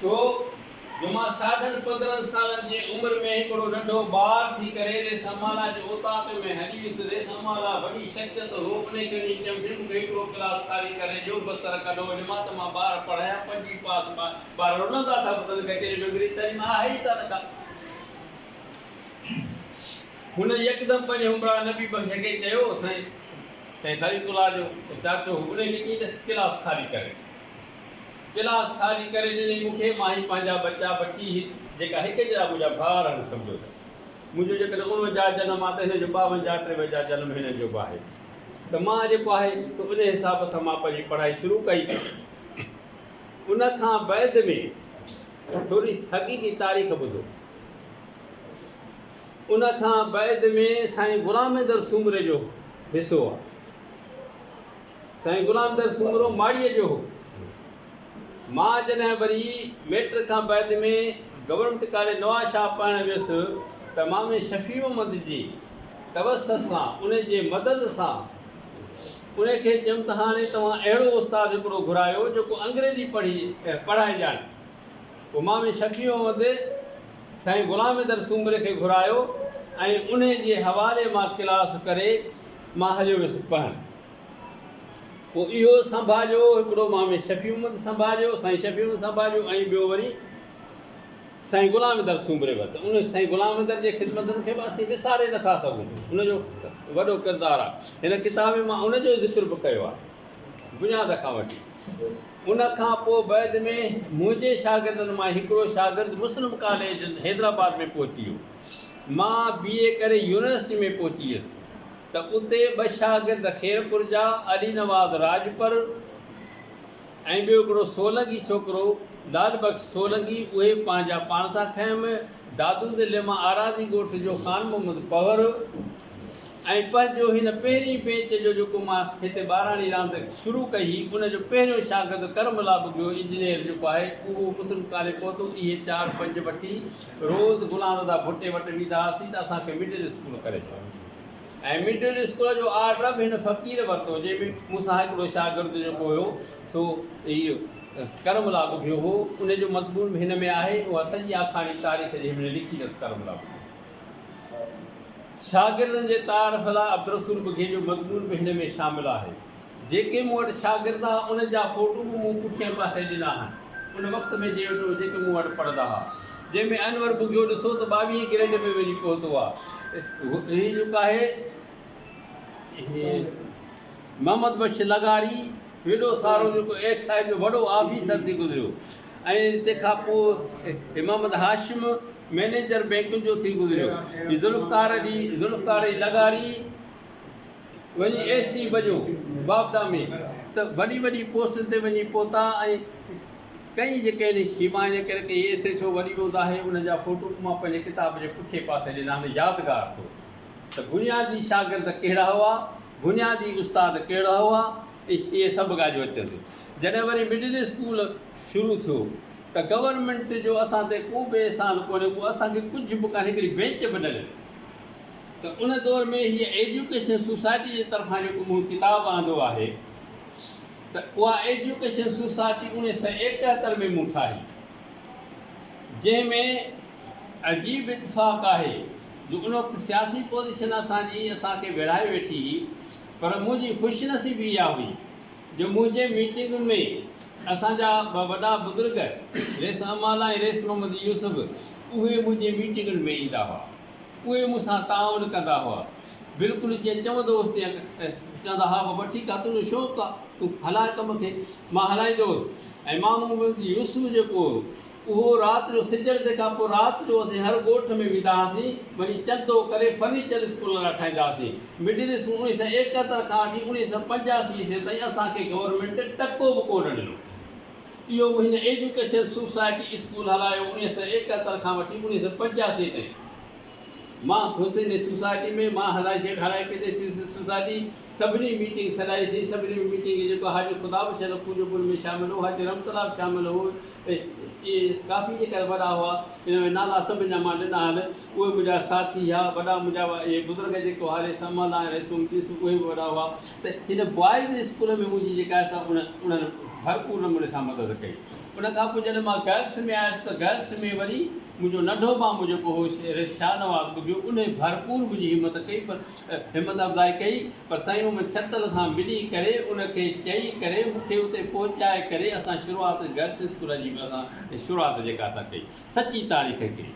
ڇو جو مان ساڍن پندرهن سالن جي عمر ۾ هڪڙو ننڍو ٻار ٿي ڪري ريسامالا جي اوطاق ۾ هلي ويس. ريسامالا وڏي شخصيت هو، انهي چوڻي چيم، سي مون کي هڪڙو ڪلاس خالي ڪري ڏيو، ٻه سر ڪڍو وڃ مان ته مان ٻار پڙهايان. پنجين پاس ٻار رنندا ٿا پتن ڪچهري ۾ انگريزي تعليم آهي ئي ڪانه ڪا. هن يڪدم پنهنجي همراهه نبي بخش کي چيو، سائين! سائين خالد الله جو چاچو هو، انهي کي چئين ته ڪلاس خالي ڪري. گلاس خالي ڪري ڏني مون کي، مان هي پنهنجا ٻچا ٻچي هي جيڪا هڪ جهڙا منهنجا ڀاء رهن سمجهو ته منهنجو جيڪڏهن اڻونجاهه جنم آ ته هن جو ٻاونجاهه ٽيونجاهه جنم هنن جو به آهي ته مان جيڪو آهي سو انهي حساب سان مان پنهنجي پڙهائي شروع ڪئي ته ان کان بعد ۾ ٿوري حقيقي تاريخ ٻڌو ان کان بعد ۾ سائين غلام مهندر سومري جو حصو آ. سائين غلام در سومرو ماڙيء جو هو. مان جڏهن وري ميٽرڪ کان بعد ۾ گورنمينٽ ڪاليج نوابشاهه پڙهڻ ويس ته مامي شفيعمحمد جي توسط سان ان جي مدد سان ان کي چيم ته هاڻي توهان اهڙو استاد هڪڙو گهرايو جيڪو انگريزي پڙهي پڙهائي ڄاڻي پوء مامي شفيعمحمد سائين غلام در سومري کي گهرايو ۽ ان جي حوالي مان ڪلاس ڪري مان هليو ويس پڙهڻ. پوء اهو سنڀاليو، هڪڙو مامي شفيع محمد سنڀاليو، سائين شفيع محمد سنڀاليو ۽ ٻيو وري سائين غلام اندر سومري وقت ان سائين غلام اندر جي خدمتن کي به اسين وساري نه ٿا سگهون ان جو وڏو ڪردار آهي هن ڪتاب ۾ مان ان جو ذڪر به ڪيو آهي بنياد کان وٺي ان کان پوء بعد ۾ منهنجي شاگردن مان هڪڙو شاگرد مسلم ڪاليج حيدرآباد ۾ پهچي ويو مان بي اي ڪري يونيورسٽي ۾ پهچي ويس ته اتي ٻه شاگرد خيرپور جا علي نواز راڄپر ۽ ٻيو هڪڙو سولنگي ڇوڪرو لعل بخش سولنگي اهي پنهنجا پاڻ ٿا کنيم دادو ضلعي مان آراضي ڳوٺ جو خان محمد پوهر ۽ پنهنجو هن پهرين بينچ جو جيڪو مان هتي ٻاراڻي راند شروع ڪئي هئي ان جو پهريون شاگرد ڪرم الله ٻگهيو انجنيئر جيڪو آهي اهو مسلم ڪاليج پهتو اهي چار پنج وٺي روز غلام رضا ڀٽي وٽ ويندا هئاسين ته اسان کي مڊل اسڪول ڪري ڏيو ۽ مڊل اسڪول جو آرڊر به هن فقير ورتو جنهن ۾ مون سان هڪڙو شاگرد جيڪو هيو سو اهو ڪرم لاڳو ڀيو هو ان جو مضمون به هن ۾ آهي اها سڄي آکاڻي تاريخ جي هن لکي اٿس ڪرم لاڳو شاگردن جي تعارف لاء عبدالرسول ٻگهي جو مضمون به هن ۾ شامل آهي جيڪي مون وٽ شاگرد ها انهن جا فوٽو به مون پٺئين پاسي ڏنا هن ان وقت ۾ جي وٽ هو جيڪي مون وٽ پڙهندا ها جنهن ۾ انور بگهيو ڏسو ته ٻاويهين گريڊ ۾ وڃي پهتو آ هي جيڪو آهي محمد بخش لغاري وڏو سارو جيڪو ايڪسائيڊ جو وڏو آفيسر ٿي گذريو ۽ تنهن کان پوء محمد هاشم مئنيجر بينڪن جو ٿي گذريو ذوالفقار جي ذوالفقار جي لغاري وڃي اي سي بنيو بابدا ۾ ته وڏي وڏي پوسٽن تي وڃي پهتا ۽ ڪئين جيڪي هن هيماين ڪرڪ اي ايس اي ٿيو وڏي هوند آهي انهن جا فوٽو به مان پنهنجي ڪتاب جي پٺئين پاسي ڏنا هن يادگار طور ته بنيادي شاگرد ڪهڙا هئا بنيادي استاد ڪهڙا هئا اهي سڀ ڳالهيون اچن ٿيون جڏهن وري مڊل اسڪول شروع ٿيو ته گورنمينٽ جو اسان تي ڪو به احسان ڪونهي اهو اسان کي ڪجهه به ڪانهي هڪڙي بينچ به نه ڏني ته ان دور ۾ هيء ايجوڪيشن سوسائٽي جي طرفان جيڪو مون ڪتاب آندو آهي ته اها ايجوڪيشن سوسائٽي اوڻيهه سئو ايڪهتر ۾ مون ٺاهي جنهن ۾ عجيب اتفاق آهي جو ان وقت سياسي پوزيشن اسان جي اسان کي ويڙهائي ويٺي هئي پر منهنجي خوش نصيبي اها هئي جو منهنجي ميٽنگن ۾ اسان جا ٻه وڏا بزرگ ريس امالا ۽ ريس محمد يوسف اهي منهنجي ميٽنگن ۾ ايندا هئا. اهي مون سان تعاون ڪندا هئا. بلڪل جيئن چون دوست تيئن چوندا هئا بابا ٺيڪ آ تنهنجو شوق آ تون هلاء ڪم کي مان هلائيندو هوس ۽ مان محمد يوسف جيڪو هو اهو رات جو سجڻ تي کان پوء رات جو اسين هر ڳوٺ ۾ ويندا هئاسين وڃي چندو ڪري فرنيچر اسڪول لاء ٺاهيندا هئاسين مڊل اسڪول اڻويهه سؤ ايڪهتر کان وٺي اڻويهه سؤ پنجاسي عيسوي تائين اسان کي گورنمينٽ ٽڪو به ڪونه ڏنو. اهو هن ايجوڪيشن سوسائٽي اسڪول هلايو اڻيهه سؤ ايڪهتر کان وٺي اڻيهه سؤ پنجاسي تائين مان حسيني سوسائٽي ۾ مان هلائي سيٺ هلائي پيتي سوسائٽي سڀني ميٽنگ سڏائي سين سڀني ۾ ميٽنگ جيڪو حاجي خدا بخش لکو جو پڻ ۾ شامل هو حاجي رحمت الله به شامل هو اهي ڪافي جيڪا وڏا هئا ان ۾ نالا سڀني جا مان ڏنا هل اهي منهنجا ساٿي هيا وڏا منهنجا اهي بزرگ جيڪو هاري سمال ۽ رئيس ممتيس اهي به وڏا هئا ته هن بوائز اسڪول ۾ منهنجي جيڪا سا انهن ڀرپور نموني سان مدد ڪئي. ان کان پوء جڏهن مان گرلس ۾ آيس ته گرلس ۾ وري منهنجو ننڍو مامو جيڪو هو ريس شاهنواز ٻڌيو انهي ڀرپور منهنجي همت ڪئي پر همت افزائي ڪئي پر سائين محمد ڇتل سان ملي ڪري ان کي چئي ڪري مون کي اتي پهچائي ڪري اسان شروعات گرلس اسڪول جي به اسان شروعات جيڪا اسان ڪئي سچي تاريخ هڪڙي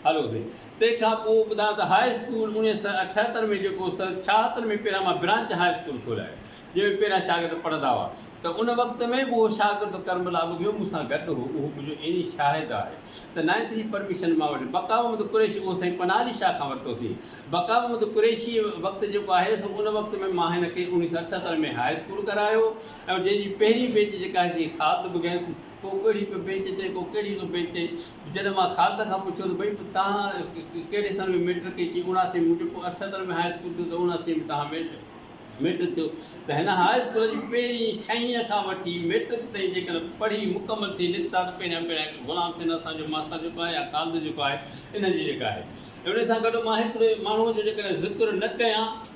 هلو سائين تنهن کان پوء ٻڌان ته هاء اسڪول اڻيهه سئو اٺهتر ۾ جيڪو سن ڇاهتر ۾ پيران مان برانچ هاء اسڪول کولايو جنهن ۾ پيران شاگرد پڙهندا هئا ته ان وقت ۾ به اهو شاگرد ڪرمل آبگيو مون سان گڏ هو اهو منهنجو عيني شاهد آهي ته نائنٿ جي پرميشن مان وٺي بقا محمد قريشي اهو سائين پناهه علي شاهه کان ورتو سين بقا محمد قريشي وقت جيڪو آهي سو ان وقت ۾ مان هن کي اڻيهه سئو اٺهتر ۾ هاء اسڪول ڪرايو ۽ جنهن جي پهرين بيچ جيڪا آهي سائين خالد بگين ڪو ڪهڙي پيو بينچ تي ڪو ڪهڙي پيو بينچ تي جڏهن مان خالد کان پڇيو ته ڀئي تهان ڪهڙي سن ۾ ميٽرڪ ڪئي چي اڻاسي ۾ مونجهي پوء اٺهتر ۾ هاء اسڪول ٿيو ته اڻاسي ۾ تهان ميٽرڪ ٿيو ته هن هاء اسڪول جي پهرين ڇهين کان وٺي ميٽرڪ تائين جيڪڏهن پڙهي مڪمل ٿي نڪتا ته پهريان پهريان غلام سين اسان جو ماستر جيڪو آهي يا خالد جيڪو آهي انهن جي جيڪا آهي انهي سان گڏ مان هڪڙي ماڻهو جو جيڪڏهن ذڪر نه ڪيان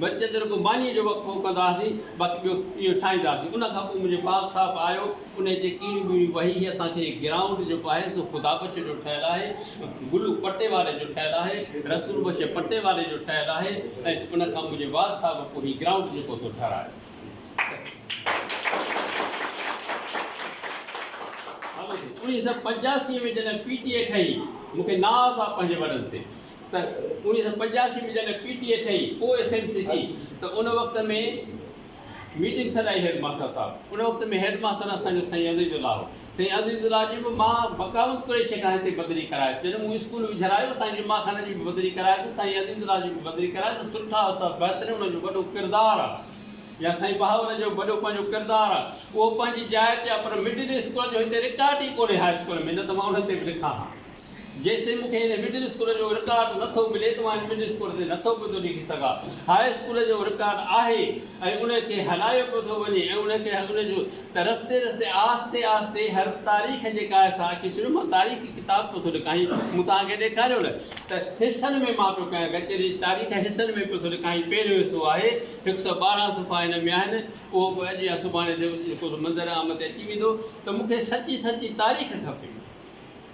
بچت رڳو مانيء جو وقفو ڪندا هئاسين، باقي ٻيو اهو ٺاهيندا هئاسين. ان کان پوء منهنجو پال صاحب آيو، انهيء چي ڪيڙيون ٻيڙيون وهي هي اسان کي گرائونڊ جيڪو آهي سو خدابخش جو ٺهيل آهي، گلو پٽي واري جو ٺهيل آهي، رسول بخش پٽي واري جو ٺهيل آهي ۽ ان کان منهنجي وال صاحب پوء هي گرائونڊ جيڪو سو ٺهرايو. اڻيهه سؤ پنجاسي ۾ جڏهن پي ٽي اي ٺهي، مون کي ناز آ پنهنجي وڏن تي، ته اڻويهه سؤ پنجاسي ۾ جڏهن پي ٽي اي ٺهي پوء ايس ايم سي ٿي ته ان وقت ۾ ميٽنگ سڏائي هيڊ ماستر صاحب ان وقت ۾ هيڊ ماستر اسان جو سائين عزيز الله هو سائين عزيز الله جي به مان بقاوت قريشي کان هتي بدلي ڪرايس جڏهن مون اسڪول وجهرايو سائين جمعه خان جي به بدلي ڪرايس سائين عزيز الله جي به بدلي ڪرايس سٺا استاد بهترين انهن جو وڏو ڪردار آهي يا سائين بهاول جو وڏو پنهنجو ڪردار آهي اهو پنهنجي جاء تي آهي پر مڊل اسڪول جو هتي رڪارڊ ئي ڪونهي هاء اسڪول ۾ نه ته مان ان تي به لکان ها جيستائين مون کي هن مڊل اسڪول جو رڪارڊ نه ٿو ملي ته مان هن مڊل اسڪول تي نه ٿو پيو ليکي سگهان. هاء اسڪول جو رڪارڊ آهي ۽ ان کي هلايو پيو ٿو وڃي ۽ ان کي ان جو ته رستي رستي آهستي آهستي هر تاريخ جي ڪاهي سان اچي چڙهيو مان تاريخي ڪتاب پيو ٿو لکائين مون توهان کي ڏيکاريو نه ته حصن ۾ مان پيو ڪيان ڪچهري جي تاريخ حصن ۾ پيو ٿو لکائين پهريون حصو آهي هڪ سؤ ٻارهن صفحا هن ۾ آهن اهو به اڄ يا سڀاڻي جيڪو منظر عام تي اچي ويندو ته مون کي سچي سچي تاريخ کپي.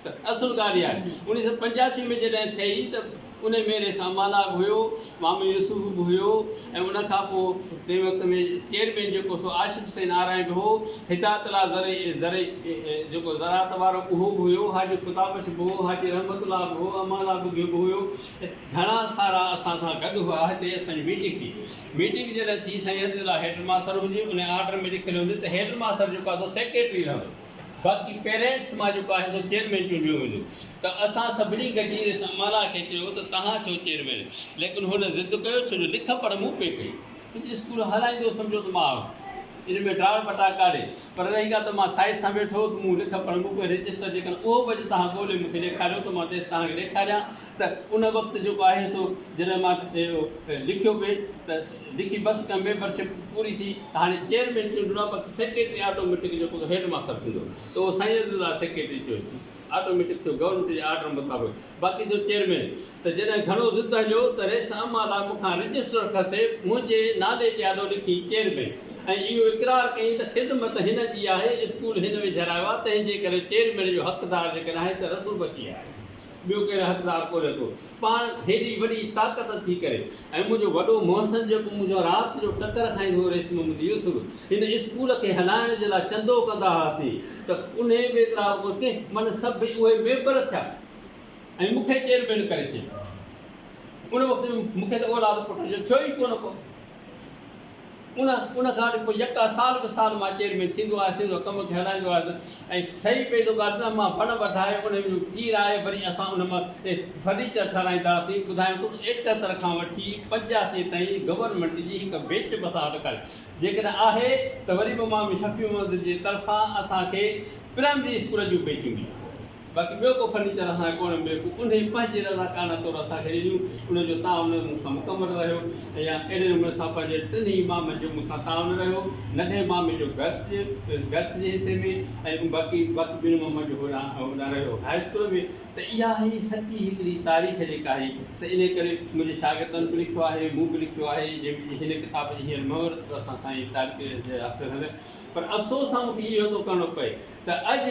ته اصل ڳالهه اها آهي. اڻيهه سؤ پنجاسي ۾ جڏهن ٿئي ته انهي ميڙي سان مالاگ هيو، مامي يوسف به هيو ۽ ان کان پوء تنهن وقت ۾ چيئرمين جيڪو سو عاشق حسين آرائيڊ هو، هدايت الله زرعي زرعي جيڪو زراعت وارو اهو به هيو، حاجي خدابخش به هو، حاجي رحمت الله به هو، امالا ٻگهيو به هيو، گهڻا سارا اسان سان گڏ هئا، هتي اسان جي ميٽنگ ٿي، ميٽنگ جڏهن ٿي سائين عزيز الله هيڊ ماستر هجي، انهي آرڊر ۾ لکيل هوندي ته هيڊ ماستر جيڪو آهي سو سيڪريٽري رهندو. باقي پيرنٽس مان جيڪو آهي سو چيئرمين چونڊيو ويندو ته اسان سڀني گڏجي ريس امالا کي چيو ته توهان ٿيو چيئرمين ليڪن هن ضد ڪيو ڇو جو لک پڙهه مون پئي ڪئي ڇو جو اسڪول هلائيندو سمجهو ته مان هوس ان ۾ ڊاڙ پٽا ڪاري پر رهي ڳالهه ته مان سائيڊ سان ويٺو هوس مون لک پڙهه مون پئي رجسٽر جيڪڏهن اهو به اڄ توهان ڳولي مون کي ڏيکاريو ته مان توهان کي ڏيکاريان ته ان وقت جيڪو آهي سو جڏهن مان لکيو پئي ته جيڪي بس ڪا ميمبر شپ پوري ٿي ته هاڻي چيئرمين چونڊڻو آهي باقي سيڪريٽري آٽو ميٽڪ جو ڪو هيڊ ماستر ٿيندو ته اهو سائين عزيز الله سيڪريٽري چيو آٽو ميٽڪ ٿيو گورنمينٽ جي آرڊر مطابق باقي ٿيو چيئرمين ته جڏهن گهڻو ضد هليو ته رئيس اما لاء مون کان رجسٽر کسي منهنجي نالي تي آڏو لکي چيئرمين ۽ اهو اقرار ڪيائين ته خدمت هن جي آهي اسڪول هن ويجهرايو آهي تنهن جي ڪري چيئرمين جو حقدار جيڪڏهن آهي ته رسول بخشي آهي ٻيو ڪير حقدار ڪونهي ٿو پاڻ هيڏي وڏي طاقت ٿي ڪري ۽ منهنجو وڏو محسن جيڪو منهنجو رات جو ٽڪر کائيندو هو ريشم محمد يوسف هن اسڪول کي هلائڻ جي لاء چندو ڪندا هئاسين ته انهي بيترا ڪو ڪنهن من سڀ ئي اهي ميمبر ٿيا ۽ مون کي چيئرمين ڪري ڇڏيو ان وقت ۾ مون کي ته اولاد پٽ جو ٿيو ئي ڪونه ڪو ان ان کان اڳ پوء يڪا سال به سال مان چيئرمين ٿيندو آهيس ٿيندو آهيس ڪم کي هلائيندو آهيس ۽ سهي پئي ٿو ڳالهه نه مان وڻ وڌائي ان جو چير آهي وري اسان ان مان فرنيچر ٺهرائينداسين ٻڌايم ته ايڪهتر کان وٺي پنجاسي تائين گورنمينٽ جي هڪ بيچ بس آرڊر ڪري جيڪڏهن آهي ته وري به مامي شفيع محمد جي طرفان اسان کي پرائمري اسڪول جون بيچون ڏيو باقي ٻيو ڪو فرنيچر اسان کي ڪونه مليو پوء انهي پنهنجي رضاڪارانه طور اسان کي ڏنيون ان جو تعاون مون سان مڪمل رهيو ۽ اهڙي نموني سان پنهنجي ٽنهي مامن جو مون سان تعاون رهيو ننڍي مامي جو گرلس جي گرلس جي حصي ۾ ۽ باقي باقي ٻن مامن جو هوڏانهن هوڏانهن رهيو هاء اسڪول ۾ ته اها هي سچي هڪڙي تاريخ جيڪا آهي سا انهي ڪري منهنجي شاگردن به لکيو آهي مون به لکيو آهي جنهن هن ڪتاب جي هينئر مهورت به اسان سائين طارق جي هٿ هلي پر افسوس سان مون کي اهو ٿو ڪرڻو پئي ته اڄ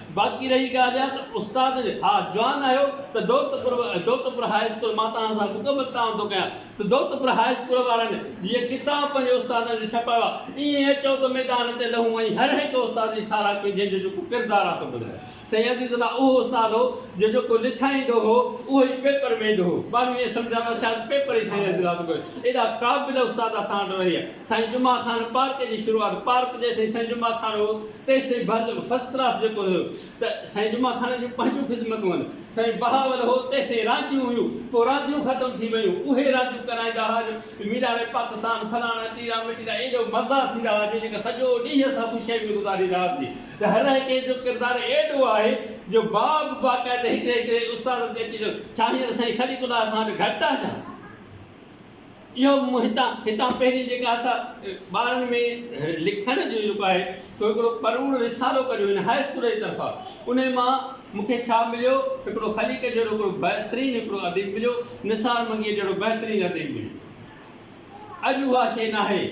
باقي رهي ڳالهه اها ته استاد جي ها جوان آهيو ته دولتپور دولتپور هاء اسڪول مان توهان سان مڪمل تعاون ٿو ڪيان ته دولتپور هاء اسڪول وارن جيئن ڪتاب پنهنجي استادن جي ڇپايا ايئن اچو ته ميدان تي لهون ۽ هر هڪ استاد جي ساراهه ڪيون جنهن جو جيڪو ڪردار آهي سو ٻڌايو سائين عزيز الله اهو استاد هو جو جيڪو لکائيندو هو اهو ئي پيپر ۾ ايندو هو ماڻهو ائين سمجهندا شايد پيپر ئي سائين عزيز الله ٿو ڪري ايڏا قابل استاد اسان وٽ رهيا سائين جمعه خان پارڪ جي شروعات پارڪ جيسين سائين جمعه خان هو تيسين ڀل فرسٽ ڪلاس جيڪو هيو ته سائين جمعه خان جون پنهنجون خدمتون هن سائين بهاول هو تيسين رانديون هيون پو رانديون ختم ٿي ويون اهي رانديون ڪرائيندا ها جو مينار پاڪستان فلاڻا ٽيرا مٽيرا ايڏو مزا ٿيندا ها جو جيڪا سڄو ڏينهن اسان خوشيء ۾ گذاريندا هاسين ته هر هڪي جو ڪردار ايڏو آهي جو باب باقاعده هڪڙي هڪڙي استاد تي اچي ٿو ڇا هينئر سائين خليق الله اسان وٽ گهٽ آهي ڇا؟ اهو به مون هتان هتان پنهنجي جيڪا اسا ٻارن ۾ لکڻ جو جيڪو آهي سو هڪڙو پروڙ رسالو ڪڍيو هن هاء اسڪول جي طرفان ان مان مون کي ڇا مليو هڪڙو خليق جهڙو هڪڙو بهترين هڪڙو اديب مليو نثار منگيء جهڙو بهترين اديب مليو اڄ اها شيء ناهي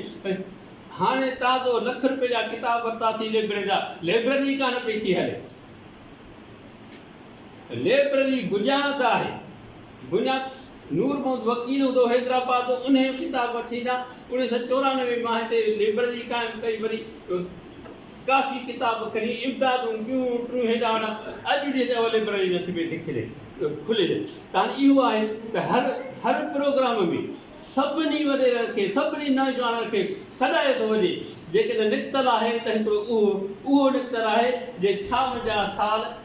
هاڻي تازو لک روپيه جا ڪتاب ورتاسي ليبرري جا ليبرري ڪانه پئي ٿي هلي ليبرري بنياد آهي بنياد نور محمد وڪيل هوندو حيدرآباد انهي جو ڪتاب وٺي ڏا اوڻيهه سئو چورانوي مان هتي لئبرري قائم ڪئي وري ڪافي ڪتاب کڻي امدادون ٻيون ٽيون هيڏا هوڏا اڄ ڏينهن تي اها لئبرري نٿي پئي ٿي کلي کلي جا ڪارڻ اهو آهي ته هر هر پروگرام ۾ سڀني وڏيرن کي سڀني نوجوانن کي سڏائي ٿو وڃي جيڪڏهن نڪتل آهي ته هڪڙو اهو اهو نڪتل آهي جي ڇا منهنجا سال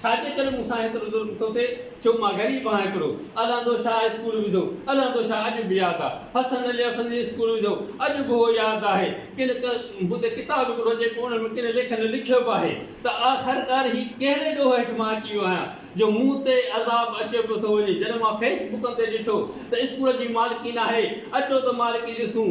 ڇا جي ڪري مون سان ايترو ظلم ٿو ٿئي، ڇو مان غريب آهيان هڪڙو، الهندو شاهه اسڪول وڌو، الهندو شاهه اڄ به ياد آ، حسن علي افندي اسڪول وڌو، اڄ به اهو ياد آهي، ڪن هتي ڪتاب هڪڙو جيڪو ان ۾ ڪن ليکن لکيو به آهي ته آخرڪار هي ڪهڙي ڏوهه هيٺ مان اچي ويو آهيان جو مون تي عذاب اچيو پيو ٿو وڃي، جڏهن مان فيس بڪن تي ڏٺو ته اسڪول جي مالڪين آهي، اچو ته مالڪي ڏسون.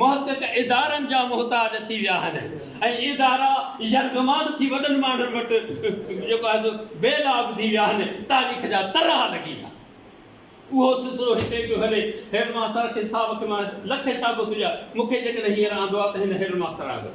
محقق ادارن جا محتاج ٿي ويا آهن ۽ ادارا يرغمال ٿي وڏن ماڻهن وٽ جيڪو آهي سو بي لاڀ ٿي ويا آهن تاريخ جا ترها لڳي ويا اهو سلسلو هتي پيو هلي هيڊ ماستر کي صاحب کي مان لک شابس هجا مون کي جيڪڏهن هينئر آندو آهي ته هن هيڊ ماستر آندو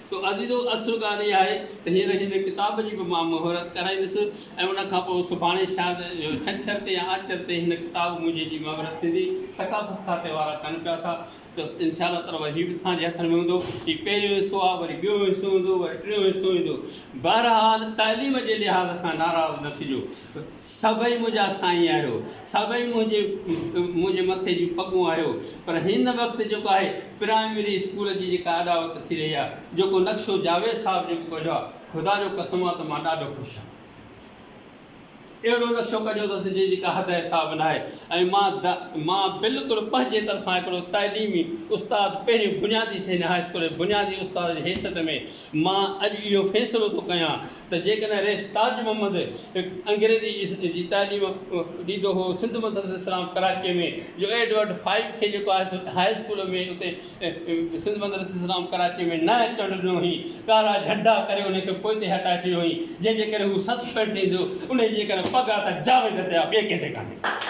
تو عزيزو اصل ڳالهه اها آهي ته هينئر هن ڪتاب جي به مان مهورت ڪرائيندس ۽ ان کان پوء سڀاڻي شايد ڇنڇر تي يا آچر تي هن ڪتاب منهنجي جي مهورت ٿيندي. ثقافت کاتي وارا چون پيا ٿا ته انشاء الله تعاليٰ هي به توهان جي هٿن ۾ هوندو. هي پهريون حصو آهي، وري ٻيون حصو ايندو، وري ٽيون حصو ايندو. بهرحال تعليم جي لحاظ کان ناراض نه ٿجو. سڀئي منهنجا سائين آهيو. سڀئي منهنجي منهنجي مٿي جون پڳون آهيو. پر هن وقت جيڪو آهي. پرائمري اسڪول جي جيڪا اڏاوت ٿي رهي آهي، جيڪو نقشو جاويد صاحب جيڪو ڪڍيو آهي، خدا جو قسم آهي ته مان ڏاڍو خوش آهيان. اهڙو نقشو ڪڍيو اٿس جنهن جي ڪا حد حساب ناهي ۽ مان مان بلڪل پنهنجي طرفان هڪڙو تعليمي استاد پهرين بنيادي سينيهر هاء اسڪول جي بنيادي استاد جي حيثيت ۾ مان اڄ اهو فيصلو ٿو ڪيان ته جيڪڏهن رئيس تاج محمد انگريزي جي تعليم ڏيندو هو سنڌ مدرسه اسلام ڪراچيء ۾ جو ايڊورڊ فائيڊ کي جيڪو آهي سو هاء اسڪول ۾ اتي سنڌ مدرسه اسلام ڪراچيء ۾ نه اچڻ ڏنو هئين ڪارا جهنڊا ڪري ان کي پوئتي هٽائي ڇڏيو هئين جنهن جي ڪري هو سسپينڊ ٿيندو انهي جي ڪري پڳا ته جاويد تي آ ٻئي ڪنهن تي ڪانهي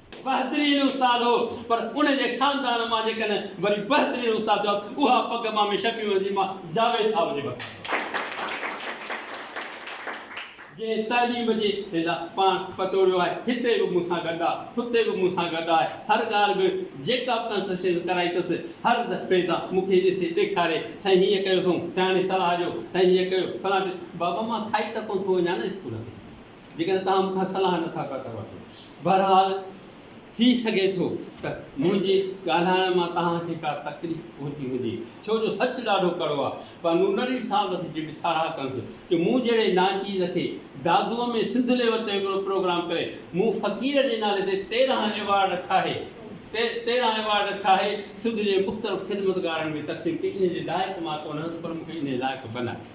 بهترين استاد هو پر ان جي خاندان مان جيڪڏهن وري بهترين استاد ٿيو ته اها پڳ مامي شفيع محمد جي مان جاويد صاحب جي مٿان جنهن تعليم جي لا پاڻ پتوڙيو آهي هتي به مون سان گڏ آهي هتي به مون سان گڏ آهي هر ڳالهه ۾ جيڪا به ڪنسيشن ڪرائي اٿس هر دفعي سان مون کي ڏسي ڏيکاري سائين هيئن ڪيو اٿئون سياڻي صلاح ڏيو سائين هيئن ڪيو فلان بابا مان کائي ته ڪونه ٿو وڃان نه اسڪول تي جيڪڏهن توهان مون کان صلاح نٿا پيا ٿا وٺو. بهرحال ٿي سگهي ٿو ته منهنجي ڳالهائڻ مان توهان کي ڪا تڪليف پهتي هجي، ڇو جو سچ ڏاڍو ڪڙو آهي. پوء مون نرڙي صاحب جي به ساراهه ڪنس جو مون جهڙي ناچيز کي دادوء ۾ سنڌ ليول تي هڪڙو پروگرام ڪري مون فقير جي نالي تي تيرهن ايوارڊ ٺاهي تيرهن ايوارڊ ٺاهي سنڌ جي مختلف خدمتگارن ۾ تقسيم ڪئي. انهيء جي لائق مان ڪونه هئس پر مون کي انهيء لائق بنائي.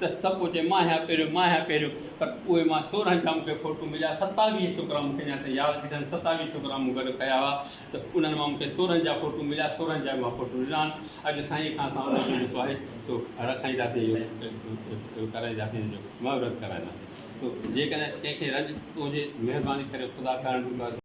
ته سڀ ڪو چئي مان هيا پهريون مان هيا پهريون پر اهي مان سورهن جا مونکي ڦوٽو مليا ستاويهه ڇوڪرا مونکي اڃا تائين ياد ڏٺا آهن ستاويهه ڇوڪرا مون گڏ کيا هئا ته انهن مان مونکي سورهن جا ڦوٽو مليا سورهن جا مان ڦوٽو ڏنا آهن اڄ سائين کان اسان ان جو جيڪو آهي سو رکائينداسين ڪرائينداسين ان جو مهورت ڪرائينداسين سو جيڪڏهن ڪنهن کي رنج پهجي مهرباني ڪري خدا ڪرڻ